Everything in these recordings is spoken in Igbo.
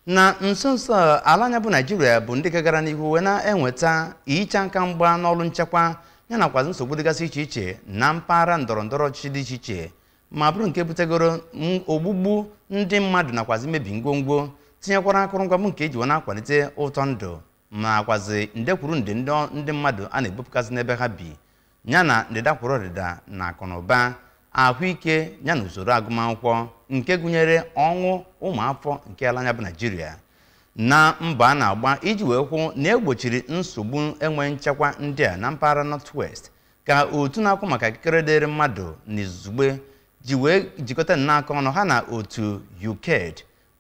na nso nso a, ala anyị bụ naijiria bụ ndị gagara n'ihu wee na-enweta ihe ịcha aka mgba n'ọrụ nchekwa ya nakwazi nsogbu dịgasị iche iche na mpaghara ndọrọ ndọrọ ọchịchị dị iche iche ma bụrụ nke butegoro ogbugbu ndị mmadụ nakwazi mmebi ngwongwo tinyekwara akụrụngwa bụ nke eji wee na-akwalite ụtọ ndụ nakwazi nde kwuru nde ndị mmadụ a na-ebupụgasị n'ebe ha bi ya na ndịda kwuru ọdịda na akụ na ụba ahụike ya na usoro agụmakwụkwọ nke gụnyere ọnwụ ụmụafọ nke ala anyị bụ naijiria na mbọ a na-agba iji wee hụ na e gbochiri nsogbu enwe nchekwa ndị a na mpaghara northwest ka otu na-ahụ maka ikikere dịrị mmadụ na izugbe ji wee jikọta nnọọ aka ọnụ ha na otu ukaid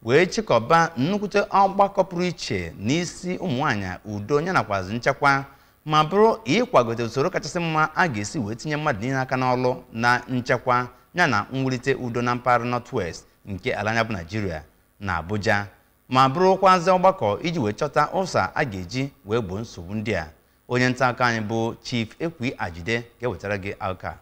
wee chịkọba nnukwute ọgbakọ pụrụ iche n'isi ụmụnwaanyị udo ya nakwazi nchekwa ma bụrụ ịkwagote usoro kachasị mma a ga-esi wee tinye mmadụ niile aka n'ọlụ na nchekwa ya na mwulite udo na mpaghara North-West nke ala anyị bụ Naijiria na Abuja ma bụrụkwazị ọgbakọ iji wee chọta ụsa a ga-eji wee gboo nsogbu ndị a onye nta akụkọ anyị bụ Chief Ekwi Ajide ga-ewetara gị akụkọ a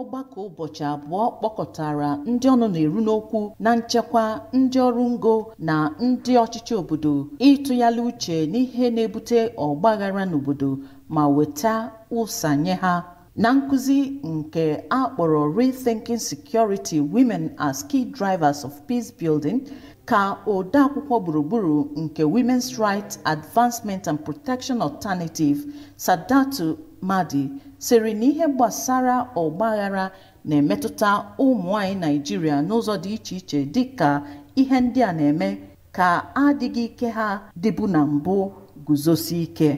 ọgbakọ ụbọchị abụọ kpọkọtara ndị ọnụ na-eru n'okwu na nchekwa ndị ọrụ ngo na ndị ọchịchị obodo ịtụgharị uche n'ihe na-ebute ọgbaghara n'obodo ma weta ụsa nye ha na nkụzi nke a kpọrọ rethinking security women as key drivers of peace building ka odeakwụkwọ gburugburu nke women's rights advancement and protection alternative saudatu Mahdi sịrị na ihe gbasara ọgbaghara na-emetụta ụmụ nwanyị Naịjirịa n'ụzọ dị iche iche dịka ihe ndị a na-eme ka adịghị ike ha dịbu na mbụ guzosie ike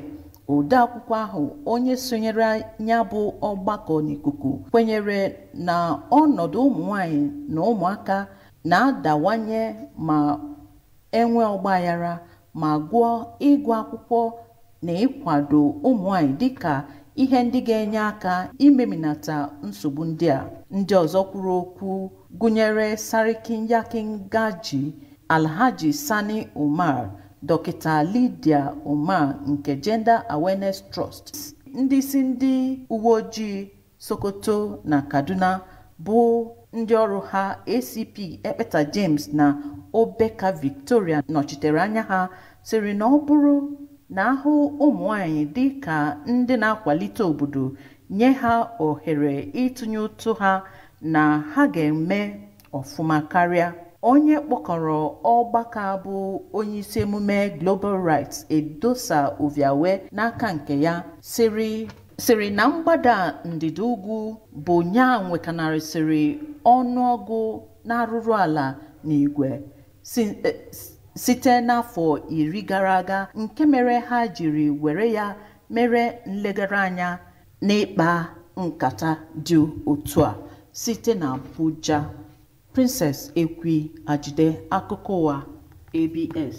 odeakwụkwọ ahụ onye sonyere ya bụ ọgbakọ n'ikuku kwenyere na ọnọdụ ụmụ nwanyị na ụmụaka na-adawanye ma e nwee ọgbaghara ma gụọ ịgụ akwụkwọ na ịkwado ụmụnwaanyị dịka ihe ndị ga-enye aka imeminata nsogbu ndị a ndị ọzọ kwuru okwu gụnyere Sarkin Yakin Gagi Alhaji Sani Umar Dọkịta Lydia Umar nke Gender Awareness Trust ndị isi ndị uwe ojii Sokoto na Kaduna bụ ndị ọrụ ha ACP Ekpeta James na Obeka Victoria nọchitere anya ha sịrị na ọ bụrụ na a hụ ụmụ nwanyị dị ka ndị na-akwalite obodo nye ha ohere ịtụnye ụtụ ha na ha ga-eme ọfụma karịa onye kpọkọrọ ọgbakọ a bụ onye isi emume Global Rights Edosa Oviawe n'aka nke ya sịrị na mgbada ndịda ugwu bụ nya nwekanarịsịrị ọnụọgụ n'arụrụ ala n'igwe eh, site n'afọ iri gara aga nke mere ha jiri were ya mere nlegara anya N'ịkpa nkata dị otu a site na Abuja, Princess Ekwi Ajide, Akụkọ Ụwa, ABS.